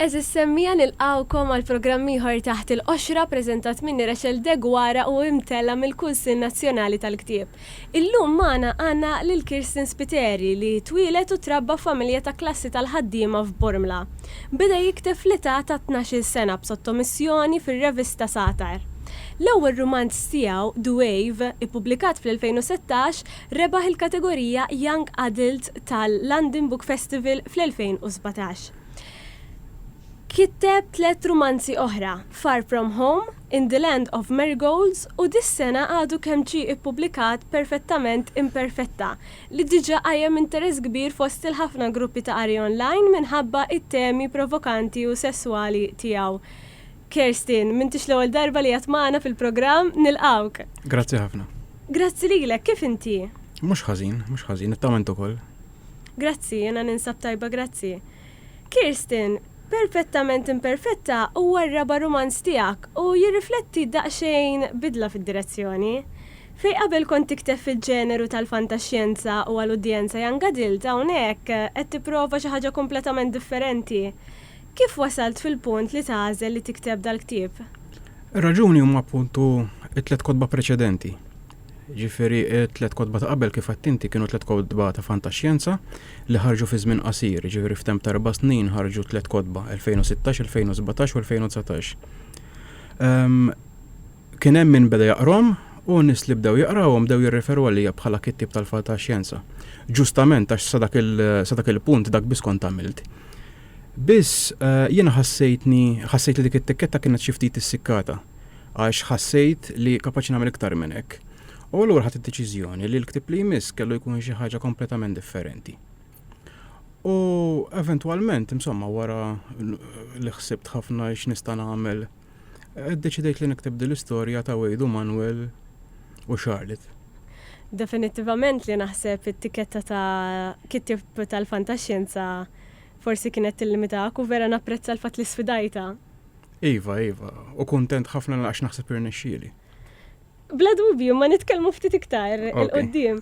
Eżis semmija nilqgħukom għal programm ieħor Taħt il-Qoxra preżentat minni Rachel Deguara u imtella' mill-Kunsill Nazzjonali tal-Ktieb. Illum magħna għandna lil Kirsten Spiteri li twieled u trabba f'familja ta' klassi tal-ħaddiema f'Bormla. Beda jikteb fl-età ta' tnax-il sena b'sottomissjoni fir-revista Satar. L-ewwel rumanz tiegħu, Duave, ippubblikat fl-2016, Rebaħ il-kategorija Young Adult tal-London Book Festival fl-2017. Kiteb tliet rumanzi oħra, Far From Home, In the Land of Marigolds u dis-sena għadu kemm ġie ippubblikat Perfettament Imperfetta li diġà qajjem interess kbir fost il-ħafna gruppi ta' qari online minħabba t-temi provokanti u sesswali tiegħu. Kerstin, m'intix l-ewwel darba li qiegħed magħna fil-programm, nilqgħuk. Grazzi ħafna. Grazzi lilek, kif inti? Mhux ħażin, mhux ħażin, nittama int ukoll. Grazzi, jiena ninsab tajba grazzi. Kerstin, Perpettament Imperfetta huwa r-raba' rumanz tiegħek u jirrifletti daqsxejn bidla fid-direzzjoni. Fejn qabel kont tikteb fil-ġeneru tal-fantaxjenza u għal udjenza young adult hawnhekk qed tipprova xi ħaġa kompletament differenti. Kif wasalt fil-punt li tagħżel li tikteb dal-ktieb? Ir-raġuni huma appuntu t-tliet kotba preċedenti. Ġifieri t-tliet kotba ta' qabel kif għedt inti kienu tliet kotba ta' fantaxjenza li ħarġu fi żmien qasir, ġifieri f'temp ta' erba' snin ħarġu tliet kotba, 2016, 2017 u 2019. Ehm, kien hemm min beda jaqrom u nies li bdew jaqrawhom bdew jirreferu għalija bħala kittieb tal-fantaxjenza. Ġustament għax sa dak il-punt dak biss kont għamilt. Biss, jiena ħassejtni, ħassejt li dik it-tikketta kienet xi ftit issikkata, għax ħassejt li kapaċi nagħmel iktar minn hekk. U allura ħadt id-deċiżjoni li l-ktieb li jmiss kellu jkun xi ħaġa kompletament differenti. U eventwalment, insomma, wara li ħsibt ħafna x'nista' nagħmel, iddeċidejt li nikteb din l-istorja ta' Wade u Manuel u Charlotte. Definittivament li naħseb it-tikketta ta' kittieb tal-fantaxjenza Forsi kienet tillimitak u vera napprezza l-fatt li sfidajtha. Iva, iva, u kuntent ħafna għax naħseb irnexxieli. Bla dubju, imma nitkellmu ftit iktar il-quddiem.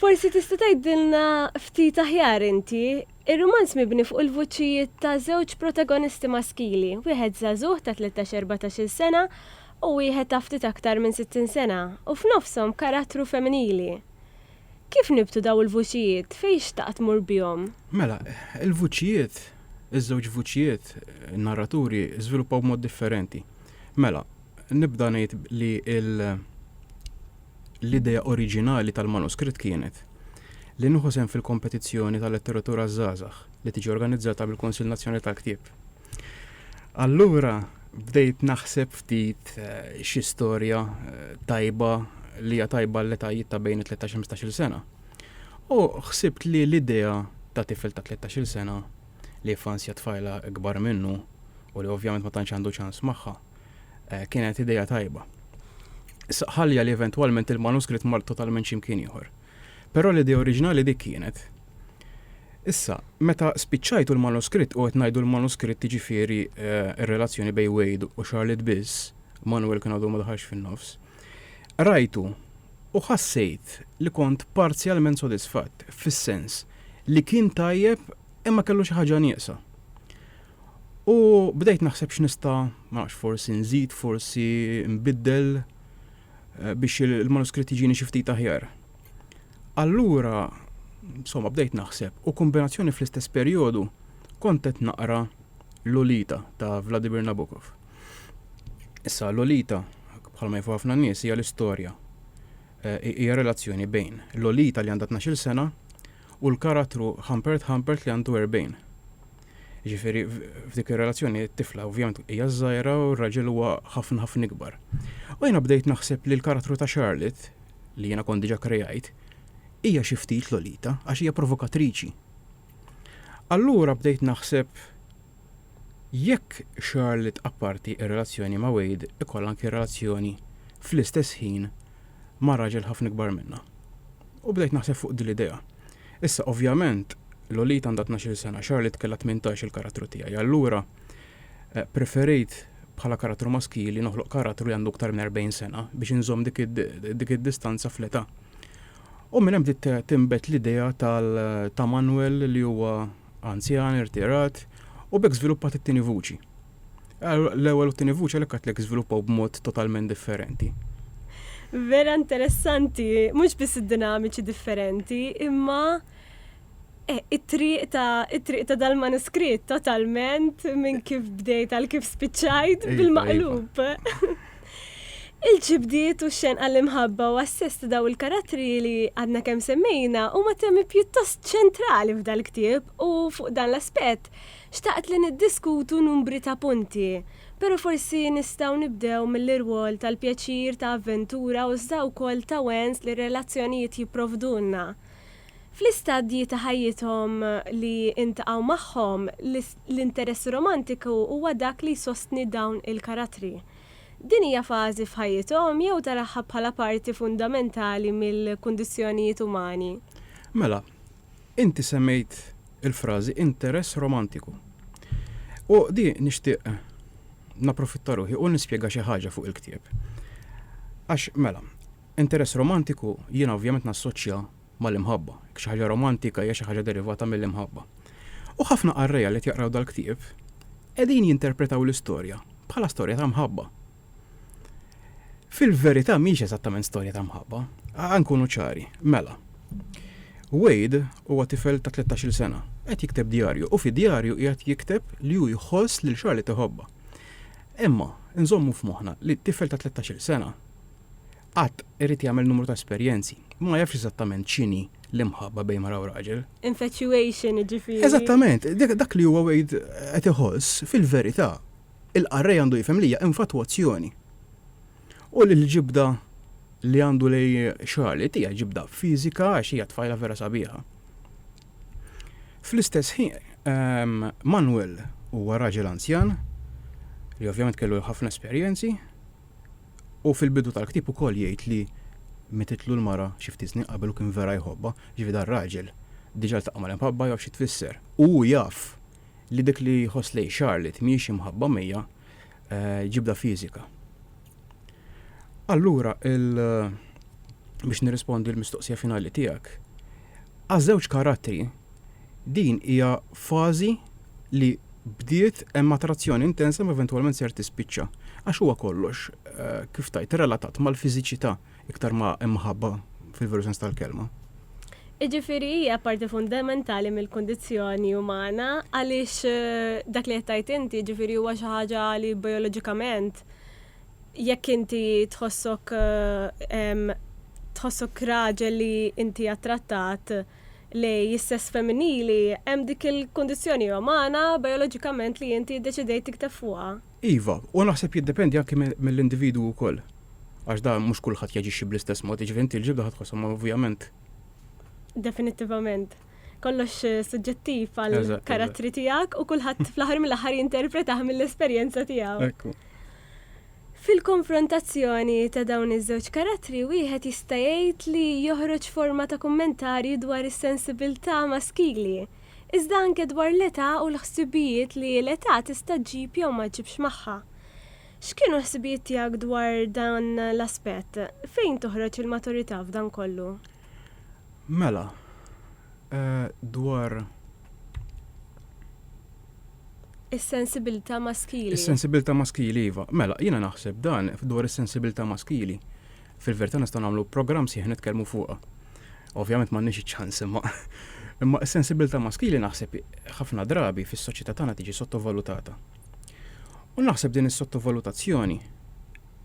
Forsi tista' tgħidilna ftit aħjar inti. Ir-rumanz mibni fuq il-vuċijiet ta' żewġ protagonisti maskili, wieħed żagħżugħ ta' tlettax-erbatax-il sena u wieħed ta' ftit aktar minn sittin sena, u f'nofshom karattru femminili. Kif nibtu daw il-vuċijiet? Fejn xtaqt tmur bihom? Mela, il-vuċijiet, iż-żewġ vuċijiet, in-narraturi żviluppaw b'mod differenti. Mela, nibda ngħid li l, l-idea oriġinali tal-manuskritt kienet li nieħu sehem fil-kompetizzjoni tal-letteratura għaż-żgħażagħ li tiġi organizzata mill-Kunsill Nazzjonali tal-Ktieb. Allura bdejt naħseb ftit xi storja tajba li hija tajba l-etajiet ta' bejn 13-15 sena. U ħsibt li l-idea ta' tifel ta' 13 sena li jiffansja tfajla ikbar minnu u li ovvjament ma tantx għandu ċans magħha eh, kienet idea tajba. Issa ħalja li eventwalment il-manuskritt mar totalment x'imkien ieħor. Però l-idea oriġinali dik kienet. Issa, meta spiċċajtu l-manuskritt, u qed ngħidu l-manuskritt jiġifieri r-relazzjoni bejn Wade u Charlotte biss, Manuel kien għadu ma daħalx fin-nofs, qrajtu u ħassejt li kont parzjalment sodisfatt, fis-sens li kien tajjeb imma kellu xi ħaġa nieqsa. U bdejt naħseb x'nista', ma nafx, forsi nżid, forsi nbiddel. biex il-manuskritt jiġini xi ftit aħjar. Allura, insomma, bdejt naħseb u kombinazzjoni fl-istess perjodu kont qed naqra Lolita ta' Vladimir Nabokov. Issa Lolita, bħalma jafu ħafna nies, hija l-istorja. Eh, hija relazzjoni bejn Lolita li għandha 12 sena u l-karattru Humpert Humpert li għandu erbgħin. Jiġifieri f'dik ir-relazzjoni t-tifla ovvjament hija żgħira u r-raġel huwa ħafna ħafna ikbar. U jiena bdejt naħseb li l-karattru ta' Charlotte, li jiena kont diġà kreajt, hija xi ftit Lolita għax hija provokatriċi. Allura bdejt naħseb Jekk Charlotte apparti r-relazzjoni ma' Wade ikollha anki relazzjoni fl-istess ħin ma' raġel ħafna ikbar minnha. U bdejt naħseb fuq din l-idea. Issa, ovvjament, Lolita għandha tnax-il sena, Charlotte kellha tmintax il-karattru tiegħi. Allura, preferejt bħala karattru maskili noħloq karattru li għandu iktar minn erbgħin sena biex inżomm dik id-distanza fl-età. U minn hemm bdiet tinbet l-idea ta' Manuel li huwa anzjan, irtirat, u b'hekk żviluppat it-tieni vuċi. L-ewwel u t-tieni vuċi għalhekk għedtlek żviluppaw b'mod totalment differenti. Vera interessanti, mhux biss id-dinamiċi differenti, imma eh, it-triq ta' it-triq ta' dal-manuskritt totalment minn kif bdejt għal kif spiċċajt iva, iva. bil-maqlub. Il-ġibdiet u x-xenq għall-imħabba u għas-sess ta' dawn il-karattri li għadna kemm semmejna huma temi pjuttost ċentrali f'dal-ktieb u fuq dan l-aspett xtaqt li niddiskutu numbri ta' punti, pero' forsi nistgħu nibdew mill-irwol tal-pjaċir ta' avventura u iżda wkoll ta' wens li r-relazzjonijiet jipprovdulna. Fl-istadji ta' ħajjithom li intaqgħu magħhom, l-interess romantiku huwa dak li jsostni dawn il-karattri. Din hija fażi f'ħajjithom jew taraha bħala parti fundamentali mill-kundizzjonijiet umani? Mela, inti semmejt il-frażi interess romantiku. U di nixtieq napprofitta ruħi u nispjega xi ħaġa fuq il-ktieb. Għax, mela, interess romantiku jiena ovvjament nassoċja mal-imħabba, jekk xi ħaġa romantika hija xi ħaġa derivata mill-imħabba. U ħafna qarrejja li qed jaqraw dal-ktieb qegħdin jinterpretaw l-istorja bħala storja ta' mħabba. Fil-verità mhix eżattament storja ta' mħabba, nkunu ċari, mela. Wade huwa tifel ta' 13-il sena, qed jikteb djarju u fid-djarju qiegħed jikteb li hu jħoss lil Charlotte iħobbha. Imma nżommu f'moħħna li tifel ta' 13-il sena Qatt, irid jagħmel numru ta' esperjenzi. Ma jafx eżattament x'inhi l-imħabba bejn mara u raġel. Infatuation, jiġifieri. Eżattament, dak li huwa Wade qed iħoss, fil-verità, il-qarrej għandu jifhem li hija infatwazzjoni. U li l-ġibda li għandu lejn Charlotte hija ġibda fiżika għax hija tfajla vera sabiħa. Fl-istess ħin, Manuel huwa raġel anzjan, li ovvjament kellu ħafna esperjenzi. Hu fil-bidu tal-ktieb ukoll jgħid li mititlu l-mara xi ftit snin qabel u kien vera jħobbha, jiġifieri dan raġel diġà ltaqa' mal-imħabba jaf xi tfisser. U hu jaf li dik li jħoss lejn Charlotte mhijiex imħabba mija, ġibda fiżika. Allura il, biex nirrispondi l-mistoqsija finali tiegħek, għaż-żewġ karattri, Din hija fażi li bdiet hemm attrazzjoni intensa ma eventwalment ser tispiċċa. Għax huwa kollox, kif tgħid, relatat mal-fiżiċità iktar ma hemm ħabba fil-veru sens tal-kelma. Jiġifieri hija parti fundamentali mill-kundizzjoni umana għaliex dak li qed tgħid inti jiġifieri huwa xi ħaġa li bijoloġikament jekk inti tħossok tħossok raġel li inti attrattat li s-sess femminili hemm dik il-kundizzjoni umana bijoloġikament li inti ddeċidejt tikteb fuqha. Iva, u naħseb jiddependi anki mill-individwu wkoll. Għax dan mhux kulħadd jaġixxi bl-istess mod, jiġifieri inti l-ġibda ħa tħossha ma ovvjament. Definittivament. Kollox suġġettiv għall-karattri tiegħek u kulħadd fl-aħħar mill-aħħar jinterpretah mill-esperjenza tiegħu. Ekku. Fil-konfrontazzjoni ta' dawn iż-żewġ karattri wieħed jista' jgħid li joħroġ forma ta' kummentarju dwar is-sensibilità maskili, iżda anke dwar l-età u l-ħsibijiet li l-età tista' ġġib jew ma ġġibx magħha. X'kienu l-ħsibijiet tiegħek dwar dan l-aspett? Fejn toħroġ il-maturità f'dan kollu? Mela, eh, dwar Is-sensibilità maskili. Is-sensibilità maskili iva. Mela, jiena naħseb dan dwar is-sensibilità maskili. Fil-verità nistgħu nagħmlu programm sieħ nitkellmu fuqha. Ovvjament m'għandniex iċ-ċans imma. Imma s-sensibilità maskili naħseb ħafna drabi fis-soċjetà tagħna tiġi sottovalutata. U naħseb din is-sottovalutazzjoni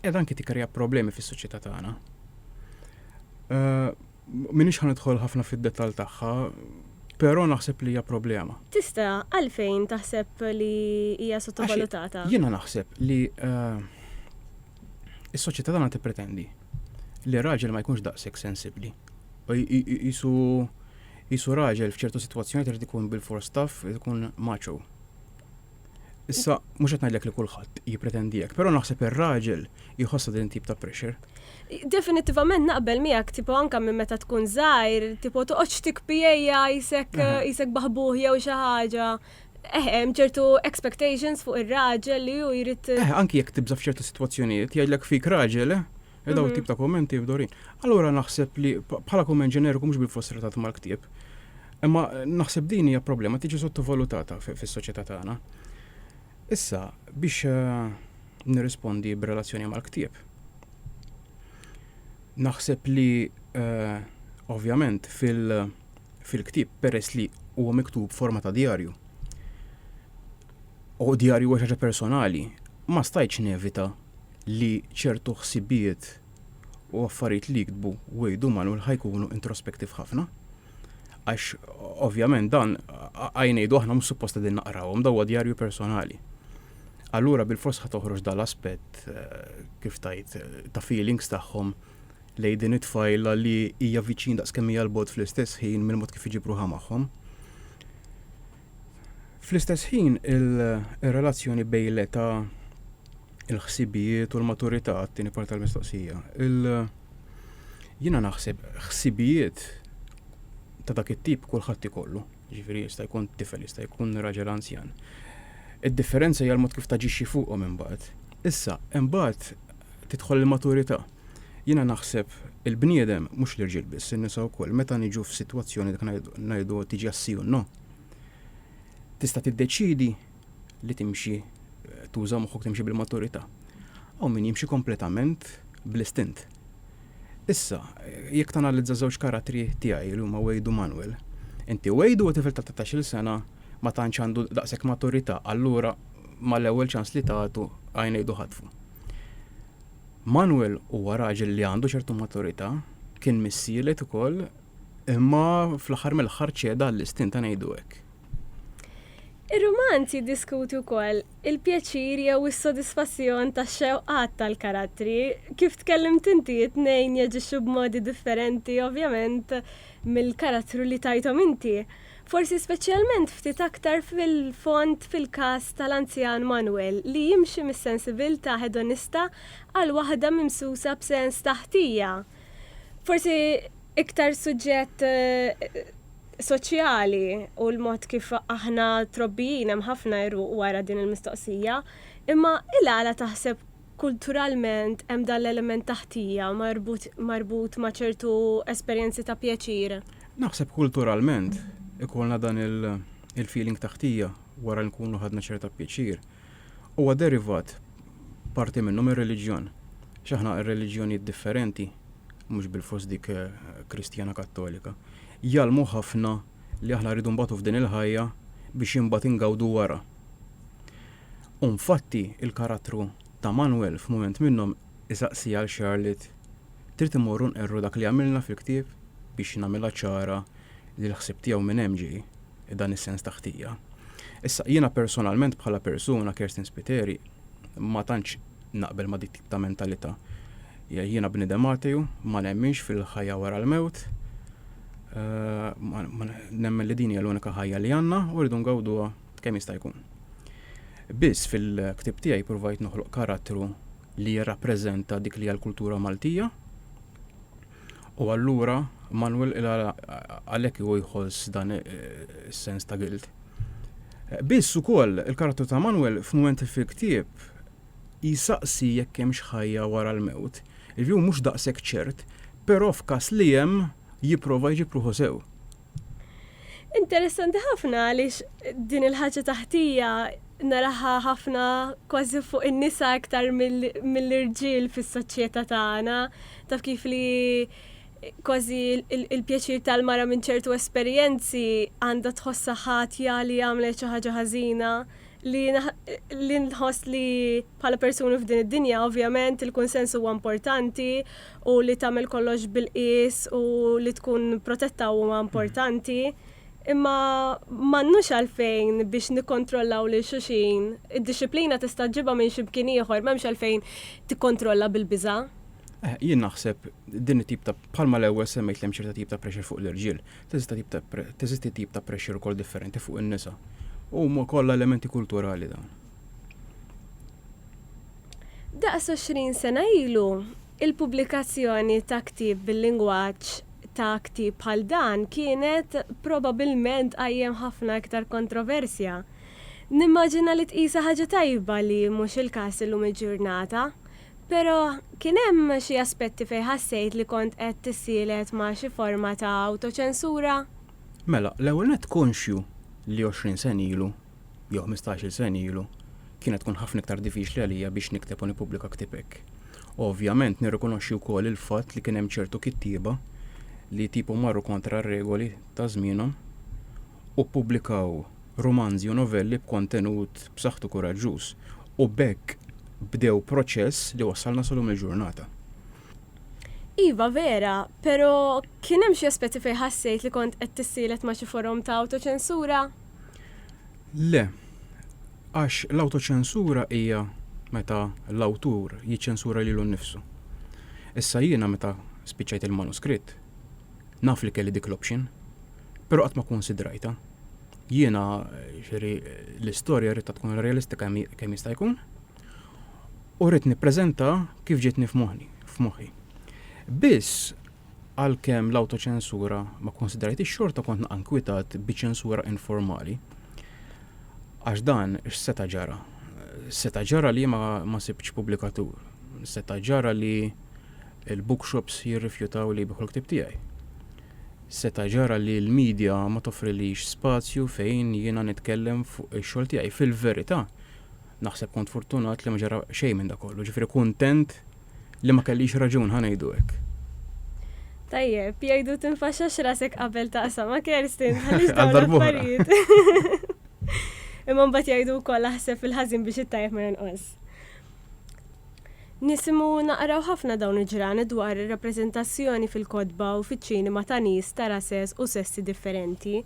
qiegħda anki tikkrija problemi fis-soċjetà tagħna. Eh, minix ħan idħol ħafna fid-detall tagħha, però naħseb li hija problema. Tista' għalfejn taħseb li hija sottovalutata? Jiena naħseb li eh, is-soċjetà tagħna tippretendi li raġel ma jkunx daqshekk sensibbli. Jisu jisu raġel f'ċertu sitwazzjoni trid ikun bil-force staff, ikun maċo. Issa, mhux qed ngħidlek li kulħadd jippretendi hekk, però naħseb ir-raġel jħossha din tip ta' pressure. Definittivament naqbel miegħek tipo anka minn meta tkun żgħir, tipo toqgħodx tikpijejja jisek jisek baħbuħ jew xi ħaġa. Eh, hemm ċertu expectations fuq ir-raġel li hu jrid. Eh, anki jekk tibża f'ċertu sitwazzjonijiet, jgħidlek fik raġel, eh? E daw tip ta' kommenti f'dorin. Allura naħseb li bħala kumment ġeneriku mhux bil-fost relatat mal-ktieb. Imma naħseb din hija problema tiġi sottovalutata fis-soċjetà tagħna. Issa biex eh, nirrispondi b'relazzjoni mal-ktieb. Naħseb li eh, ovvjament fil-ktieb peress li huwa miktub forma ta' djarju. U djarju huwa xaġa personali, ma stajtx nevita li ċertu ħsibijiet u affarijiet li jiktbu Wade u Manuel ħa jkunu introspective ħafna. Għax ovvjament dan ħaj ngħidu aħna mhux suppost qegħdin naqrawhom daw djarju personali. Allura bil-fors ħa toħroġ dal-aspett eh, kif tajt eh, ta' feelings tagħhom lejn din it-tfajla li hija viċin daqskemm hija l-bot fl-istess ħin mill-mod kif iġibruha magħhom. Fl-istess ħin, ir-relazzjoni bejn l-età, il-ħsibijiet u l-maturità għat-tieni parti tal-mistoqsija. Jiena naħseb ħsibijiet ta' dak it-tip kulħadd ikollu, ġifieri jista' jkun tifel, jista' jkun raġel anzjan. Id-differenza hija l-mod kif taġixxi fuqhom imbagħad. Issa, imbagħad tidħol il-maturità. Jiena naħseb il-bniedem, mhux l-irġiel biss, in-nisa wkoll, meta niġu f'sitwazzjoni dak ngħidu tiġi għas-si u no, tista' tiddeċiedi li timxi tuża moħħok timxi bil-maturità. Hawn min jimxi kompletament bl-istint. Issa, jekk tanalizza żewġ karattri tiegħi li huma Wade u Manuel, inti Wade huwa tifel ta' 13-il sena ma tantx għandu daqshekk maturità, allura mal-ewwel ċans li tagħtu għajnejdu ħatfu. Manuel huwa raġel li għandu ċertu maturità, kien missielet ukoll, imma fl-aħħar mill-aħħar ċeda għall-istint ta' ngħidu hekk. Ir-rumanz jiddiskuti wkoll il-pjaċir jew is-sodisfazzjon tax-xewqat tal-karattri. Kif tkellimt inti, it-tnejn jaġixxu b'modi differenti ovvjament mill-karattru li tajthom inti. Forsi speċjalment ftit aktar fil-fond fil-każ tal-anzjan Manuel li jimxi mis-sensibiltà hedonista għal waħda mimsusa b'sens ta' ħtija. Forsi iktar suġġett soċjali hu l-mod kif aħna trobbijin, hemm ħafna jruq wara din il-mistoqsija. Imma il-għala taħseb Kulturalment hemm dan l-element ta' ħtija marbut ma' ċertu esperjenzi ta' pjaċir. Naħseb kulturalment ikollna dan il-feeling ta' ħtija wara li nkunu ħadna ċerta pjaċir. Huwa derivat, parti minnu, mir-reliġjon. Għax aħna r-reliġjonijiet differenti, mhux bilfors dik Kristjana Kattolika, jgħallmu ħafna li aħna rridu nbatu f'din il-ħajja biex imbagħad ingawdu wara. U nfatti, il-karattru ta' Manuel f'mument minnhom isaqsi għal Charlotte, Trid immorru nqerru dak li għamilna fil-ktieb biex nagħmilha ċara li l-ħsieb tiegħu minn hemm ġej, dan is-sens ta' ħtija? Issa, jiena personalment bħala persuna, Kirsten Spiteri, ma tantx naqbel ma' dik tip ta' mentalità. Jiena bniedem atew, ma nemminx fil-ħajja wara l-mewt, nemmen li din hija l-unika ħajja li għandna u rridu ngawduha kemm jista' jkun. Biss fil-ktieb tiegħi provajt noħloq karattru li jirrappreżenta dik li hija l-kultura Maltija. U allura Manuel għalhekk hu jħoss dan is-sens ta' gilt. Biss ukoll il-karattru ta' Manuel f'mument fil-ktieb jisaqsi jekk hemm xħajja wara l-mewt. Il-view mhux daqshekk ċert, però f'każ li hemm jipprova jġib ruħu sew. Interessanti ħafna għaliex din il-ħaġa taħtija naraħa ħafna kważi fuq in-nisa iktar mill-irġiel fis-soċjetà tagħna. Taf kif li kważi il-pjaċir tal-mara minn ċertu esperjenzi għandha tħossha ħatja li għamlet xi ħaġa ħażina li nħoss li bħala persuni f'din id-dinja ovvjament il-kunsens huwa importanti u li tagħmel kollox bil-qies u li tkun protetta huma importanti, imma m'għandnux għalfejn biex nikkontrollaw lil xulxin. Id-dixxiplina tista' ġġibha minn xi mkien ieħor, m'hemmx għalfejn tikkontrolla bil-biża'. Eh, jien naħseb din it-tip ta' bħalma l-ewwel semmejt li hemm ċerta tip ta' pressure fuq l-irġiel, teżisti tip ta' pressure ukoll differenti fuq in-nisa. Huma kollha elementi kulturali dawn. Daqs għoxrin sena ilu, il-pubblikazzjoni ta' ktieb bil-lingwaġġ ta' ktieb bħal dan kienet probabbilment tqajjem ħafna iktar kontroversja. Nimmaġina li tqisha ħaġa tajba li mhux il-każ illum il-ġurnata. Però, kien hemm xi aspetti fejn ħassejt li kont qed tissielet ma' xi forma ta' awtoċensura? Mela, l-ewwel nett konxju li għoxrin sena ilu jew ħmistax-il sena ilu, kienet tkun ħafna iktar diffiċli għalija biex nikteb u nippubblika ktieb hekk. Ovvjament nirrikonoxxi wkoll il-fatt li kien hemm ċertu kittieba li tipu marru kontra r-regoli ta' żmienhom u ppubblikaw rumanzi u novelli b'kontenut b'saħħtu kuraġġuż u b'hekk bdew proċess li wassalna sa lum il-ġurnata. Iva vera, pero' kien hemm xi aspetti fejn ħassejt li kont qed tissielet ma' xi forom ta' awtoċensura? Le, għax l-awtoċensura hija meta l-awtur jiċċensura lilu nnifsu. Issa jiena meta spiċċajt il-manuskritt, naf li kelli dik l-option, però qatt ma kkunsidrajtha. Jiena xiri l-istorja rridha tkun realistika kemm jista' jkun u rrid nippreżenta kif ġietni f'moħħi. Biss Għalkemm l-awtoċensura ma kkunsidrajtix xorta kont naqa' nkwitat bi ċensura informali. Għax dan x'seta' ġara? Seta' ġara li ma, ma sibtx pubblikatur. Seta' ġara li l-bookshops jirrifjutaw li jbiħu l-ktieb tiegħi. Seta' ġara li l-media ma toffrilix spazju fejn jiena nitkellem fuq ix-xogħol tiegħi. Fil-verità, naħseb kont fortunat li ma ġara xejn minn dak kollu. Ġifieri kuntent li ma kellix raġun ħa ngħidu hekk. Tajjeb, jgħidu tinfaxxax rasek qabel taqsam ma' Kerstin għaliex dawn l-affarijiet. Imma mbagħad jgħidu wkoll aħseb fil-ħażin biex it-tajjeb ma jonqos. Nisimu naqraw ħafna dawn il-ġrani dwar ir-rappreżentazzjoni fil-kotba u fiċ-ċinema ta' nies ta' rases u sessi differenti.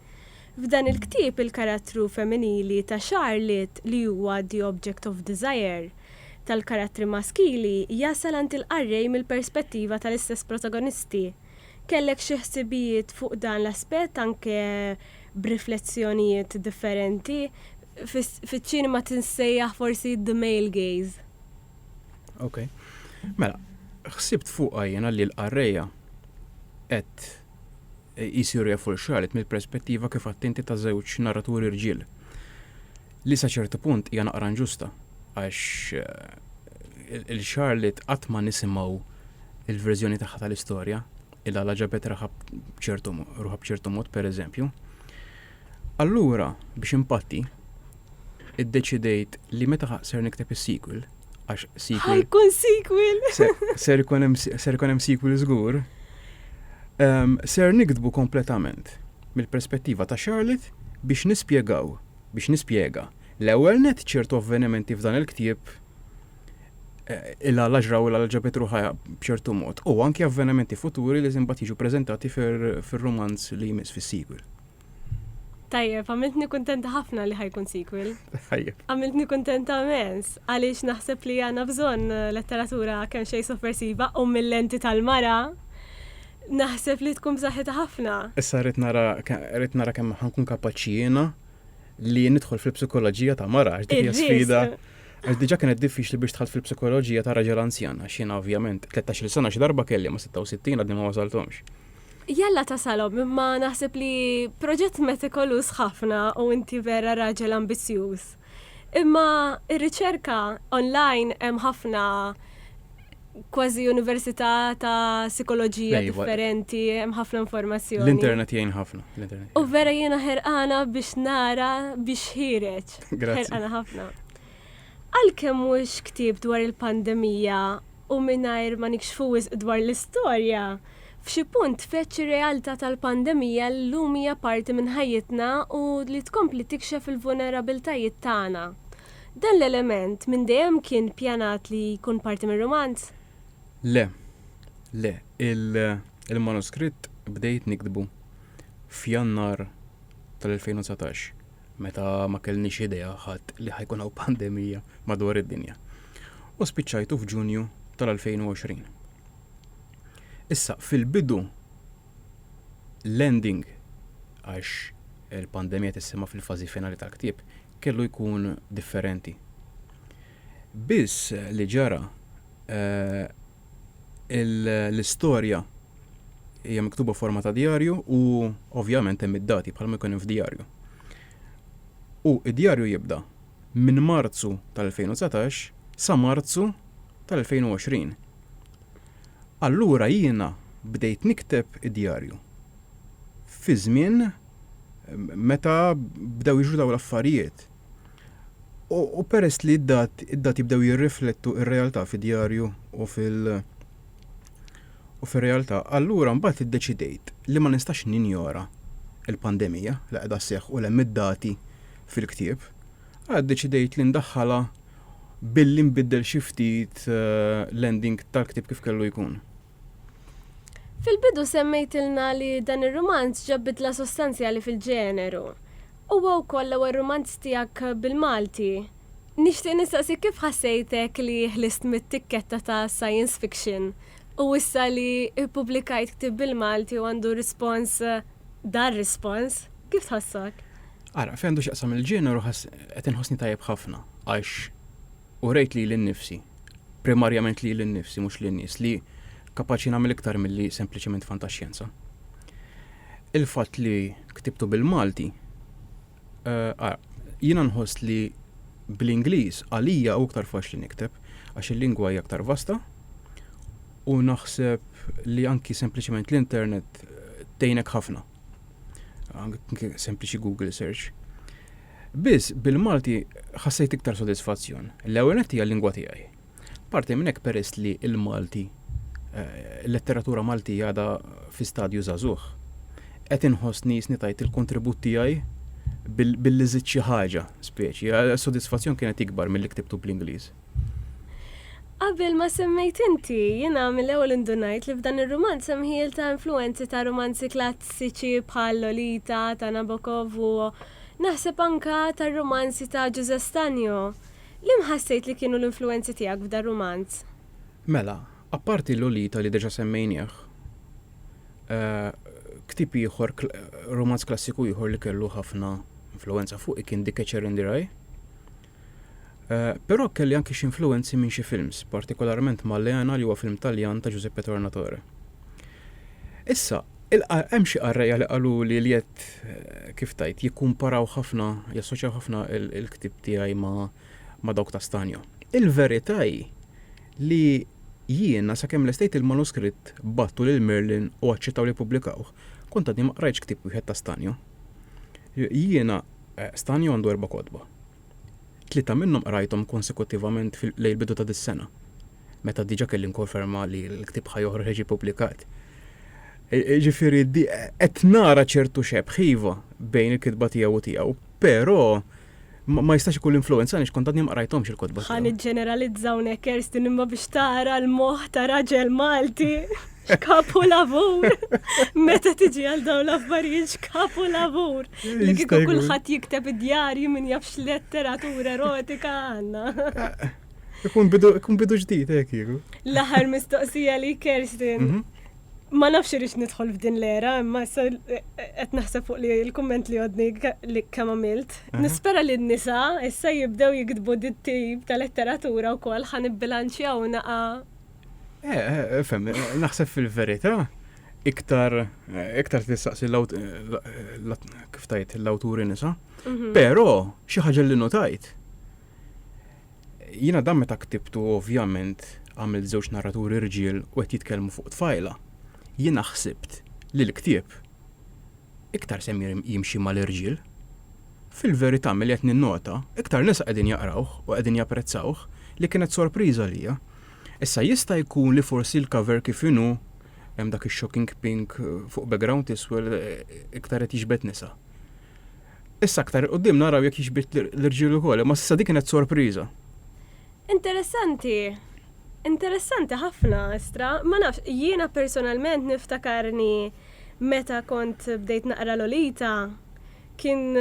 F'dan il-ktieb il-karattru femminili ta' Charlotte li huwa The Object of Desire, tal-karattri maskili jasal għand il-qarrej mill-perspettiva tal-istess protagonisti. Kellek xi ħsibijiet fuq dan l-aspett anke b'riflessjonijiet differenti? Fiċ-ċinema tinsejjaħ forsi the male gaze. Ok. Mela, ħsibt fuqha jiena li l-qarrejja qed Isir Reful x'qalet mill-perspettiva kif għedt inti ta' żewġ narraturi rġiel, li sa ċertu punt hija naqra inġusta għax 'l Charlotte qatt ma nisimgħu l-verżjoni tagħha tal-istorja, 'l għala ġabet raħha b'ċertu ruħha b'ċertu mod, pereżempju. Allura, biex inpatti, iddeċidejt li meta ser nikteb is-sequel, għax sequel. Ħajkun sequel! Ser ikun hemm sequel żgur. Ehm, ser niktbu kompletament mill-perspettiva ta' Charlotte biex nispjegaw, biex nispjega l-ewwel net ċertu avvenimenti f'dan il-ktieb eh, illa l-aġra u illa ġabet ruħa b'ċertu mod, u anki avvenimenti futuri li zimbat jiġu prezentati fir-romanz li jmiss fis-sequel. Tajjeb, għamiltni kontenta ħafna li ħajkun sequel. Tajjeb. Għamiltni kontenta mens, għaliex naħseb li għana bżon eh, letteratura kemm xej soppressiva u mill-lenti tal-mara naħseb li tkun b'saħħitha ħafna. Issa rrid nara rrid nara kemm ħankun kapaċi jiena li nidħol fil-psikoloġija ta' mara, dik hija sfida. Għax diġà kienet diffiċli biex dħalt fil-psikoloġija ta' raġel anzjan, għax jiena ovvjament, tlettax-il sena xi darba kelli imma sitta u sittin għadni ma wasalthomx. Jalla tasalhom imma naħseb li proġett metikoluż ħafna u inti vera raġel ambizzjuż. Imma r-riċerka online hemm ħafna kważi università ta' sikoloġija differenti, hemm ħafna informazzjoni. L-internet jgħin ħafna. U vera jiena ħerqana biex nara biex ħireġ. Ġorġ. Grazzi. Ħerqana ħafna. Għalkemm mhux ktieb dwar il-pandemija u mingħajr ma nikxfu wisq dwar l-istorja, f'xi punt feċ ir-realtà tal-pandemija li llum hija parti minn ħajjitna u li tkompli tikxef il-vulnerabbiltajiet tagħna. Dan l-element minn dejjem kien pjanat li jkun parti mir-rumanz? Le. Le. Il-manuskritt bdejt niktbu f'Jannar tal-2019. meta ma kellniex idea ħadd li ħajkun hawn pandemija madwar id-dinja. U spiċċajtu f'Ġunju tal-2020. Issa, fil-bidu, l-ending, għax il-pandemija tissema fil-fażi finali tal-ktieb, kellu jkun differenti. Biss li ġara eh, l-istorja hija miktuba forma ta' djarju u ovvjament hemm id-dati bħalma jkun hemm f'djarju. U id-djarju jibda minn Marzu tal-2019 sa Marzu tal-2020. Allura jiena bdejt nikteb id-djarju fi żmien meta bdew jiġru dawn l-affarijiet. U peress li d-dat, id-dati bdew jirriflettu il realtà fi djarju u fil- u fir-realtà, allura mbagħad iddeċidejt li ma nistax ninjora l-pandemija li qiegħda sseħħ u li hemm id-dati fil-ktieb, għala ddeċidejt li ndaħħalha billi nbiddel xi ftit eh, l-ending tal-ktieb kif kellu jkun. Fil-bidu semmejtilna li dan ir-rumanz ġab bidla sostanzjali fil-ġeneru. Huwa wkoll l-ewwel rumanz tiegħek bil-Malti. Nixtieq nistaqsik kif ħassejtek li ħlist mit-tikketta ta' science fiction u issa li ppubblikajt ktieb bil-Malti u għandu rispons dan rispons. Kif tħossok? Ara, fejn għandu x'jaqsam il-ġeneru ħass qed inħossni tajjeb ħafna għax u rejt lili nnifsi, primarjament lili nnifsi mhux lin-nies, li kapaċi nagħmel iktar milli sempliċement fantaxjenza. Il-fatt li ktibtu bil-Malti, eh, jiena nħoss li bl-Ingliż għalija u iktar faċli nikteb għax il-lingwa hija aktar vasta u naħseb li anki sempliċement l-internet eh, tejnek ħafna. Sempliċi Google search. Biss bil-Malti ħassejt iktar sodisfazzjon. L-ewwel nett hija l-lingwa tiegħi. Parti minn hekk peress li l-Malti, il-letteratura Maltija għadha fi stadju żagħżugħ, qed inħoss nieqsni tajt il-kontribut tiegħi billi żidt xi ħaġa, speċi. Is-sodisfazzjon kienet ikbar milli ktibtu bl-Ingliż. Qabel ma semmejt inti, jiena mill-ewwel indunajt li f'dan ir-rumanz hemm ħjiel ta' influwenzi ta' rumanzi klassiċi bħal Lolita ta' Nabokov u, naħseb anka, tar-rumanzi ta' Ġużè Stanjo. Liem ħassejt li kienu l-influwenzi tiegħek f'dar-rumanz? Mela, apparti Lolita li deġa semmejnieh, ktieb ieħor, rumanz klassiku ieħor li kellu ħafna influwenza fuqi kien Dik Ece Rendirai. Però kelli anki xi influwenzi minn xi films, partikolarment Maleana li huwa film Taljan ta' Giuseppe Tornatore. Issa, hemm xi qarrejja li qaluli li qed kif tgħid jikkumparaw ħafna, jassoċjaw ħafna l-ktieb tiegħi ma' dawk ta' Stagno. Il-verità hi li jiena sakemm lestejt il-manuskritt, bgħattu lil Merlin u aċċettaw li jippubblikawh, kont għadni ma qrajtx ktieb wieħed ta' Stagno. Jiena stani għandu erba' kotba. Tlieta minnhom qrajthom konsekuttivament lejn il-bidu ta' dis-sena, meta diġà kelli nkonferma li l-ktieb ħa joħroġ jiġi pubblikat. Ġifieri qed nara ċertu xebħ iva bejn il-kitba tiegħu u tiegħu, però ma jistax ikun l-influenza għaliex kont għadni ma qrajthomx il-kotba. Ħa niġġeneralizza hawnhekk Kerstin imma biex tara l-moħħ ta' raġel Malti x'kapu lavur. Meta tiġi għal dawn l-affarijiet x'kapu lavur. Li kieku kulħadd jikteb id-djarji minn jafx letteratura erotika għandna. Ikun bidu ġdid hekk eh, jieku. L-aħħar mistoqsija li Kerstin. Mhm. Ma nafx irix nidħol f'din l-era, imma issa qed naħseb fuq li l-kumment li għodni li kemm għamilt. Mhm. Nispera li n-nisa issa jibdew jiktbu dit-tip ta' letteratura wkoll ħan ibbilanċjaw naqa. Eh, eh, eh fem, eh, naħseb fil-verità iktar iktar tistaqsi kif tajt l-awturi nisa. Mhm. Però xi ħaġa li notajt Jiena dan meta ktibtu ovvjament għamilt żewġ narraturi rġiel u qed jitkellmu fuq tfajla. Jiena ħsibt li l-ktieb iktar se jimxi mal-irġiel. Fil-verità milli qed ninnota, iktar nisa qegħdin jaqrawh u qegħdin japprezzawh, li kienet sorpriża għalija. Issa jista' jkun li forsi l-cover kif inhu, hemm dak ix-shocking pink fuq background iswed, iktar qed jiġbed nisa. Issa aktar 'il quddiem naraw jekk jixbih l-irġiel ukoll, imma s'issa dik kienet sorpriża. Interessanti. Interessanti ħafna, Estra. Ma nafx, jiena personalment niftakarni meta kont bdejt naqra Lolita, kien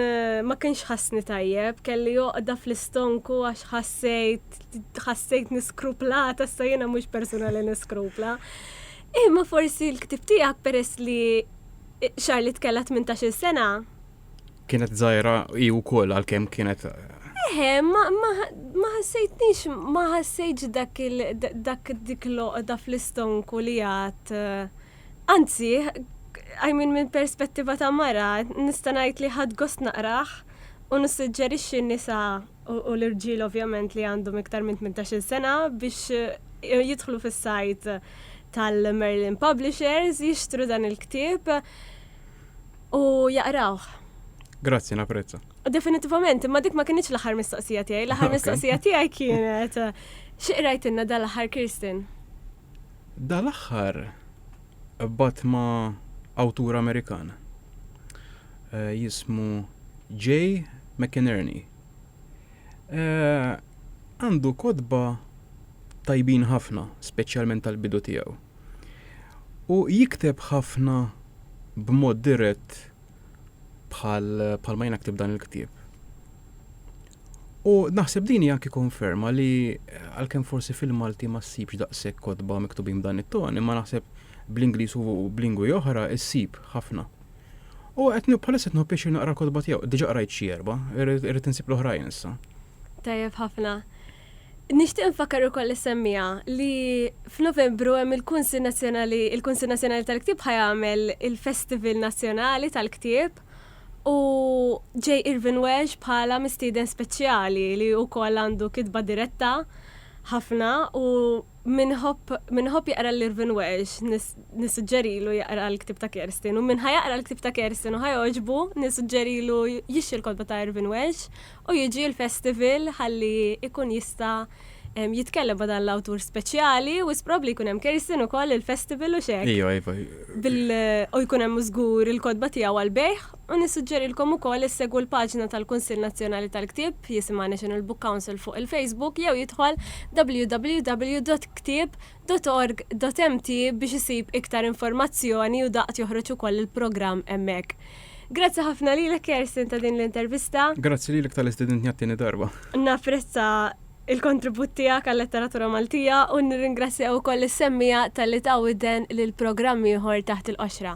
ma kienx ħassni tajjeb, kelli għoqda fl-istonku għax ħassejt, ħassejtni skruplata, issa jiena mhux persuna li niskrupla. Imma forsi l-ktieb tiegħek peress li Charlotte kellha tmintax-il sena. Kienet żgħira hi wkoll għalkemm kienet Eħe, ma ħassejtnix, ma ħassejtx dak dak dik l-għoqda fl-istonku li għad. Anzi, I mean minn perspettiva ta' mara, nista' ngħid li ħadt gost naqrah u nissuġġerixxi n-nisa u l-irġiel ovvjament li għandhom iktar minn 18-il sena biex jidħlu fis-sajt tal-Merlin Publishers jixtru dan il-ktieb u jaqrawh. Grazzi, naprezza. Definitivament, imma dik ma kienx l-aħħar mistoqsija tiegħi, l-aħħar mistoqsija tiegħi kienet x'qrajtilna dal-aħħar Kirsten? Dal-aħħar qbadt ma' awtur Amerikan jismu Jay McInerney. Għandu kotba tajbin ħafna, speċjalment tal-bidu tiegħu. U jikteb ħafna b'mod dirett bħal ma jiena ktibt dan il-ktieb. U naħseb din hi anki konferma li għalkemm forsi fil-Malti ma ssibx daqshekk kotba miktubin b'dan it-ton, imma naħseb bl-Ingliż u b'lingwi oħra ssib ħafna. U qed bħalissa qed pjaċir naqra l-kotba tiegħu, diġà qrajt xi erba', irrid insib l-oħrajn issa. Tajjeb ħafna. Nixtieq nfakkar ukoll is-semmiegħa li f'Novembru hemm il-Kunsill Nazzjonali, il-Kunsill Nazzjonali tal-Ktieb ħajamel il-Festival Nazzjonali tal-Ktieb u J. Irvin Welsh bħala mistieden speċjali li wkoll għandu kitba diretta ħafna u min iħobb min iħobb jaqra lil Irvin Welsh nis- nissuġġerilu jaqra l-ktieb ta' Kerstin u min ħa jaqra l-ktieb ta' Kerstin u ħa jogħġbu nissuġġerilu jixtri l-kotba ta' Irvin Welsh U jiġi l-festival ħalli jkun jista' jitkellem ma' dan l-awtur speċjali, wisq probabbli jkun hemm Kirsten ukoll il-festival u x'hekk. Ejja, iva. Bil, u jkun hemm żgur il-kotba tiegħu għall-bejgħ, u nissuġġerilkom ukoll issegwu l-paġna tal-Kunsill Nazzjonali tal-Ktieb, jisimha National Book Council fuq il-Facebook jew jidħol www.ktieb. dot org dot mt biex isib iktar informazzjoni u daqt joħroġ ukoll il-programm hemmhekk. Grazzi ħafna lilek Kersten ta' din l-intervista. Grazzi lilek tal-li stedintni għat-tieni darba. Napprezza il-kontribut tiegħek għal-letteratura Maltija u nirringrazzja ukoll lis-semmiegħa talli ta widen lil programm ieħor taħt il-qoxra.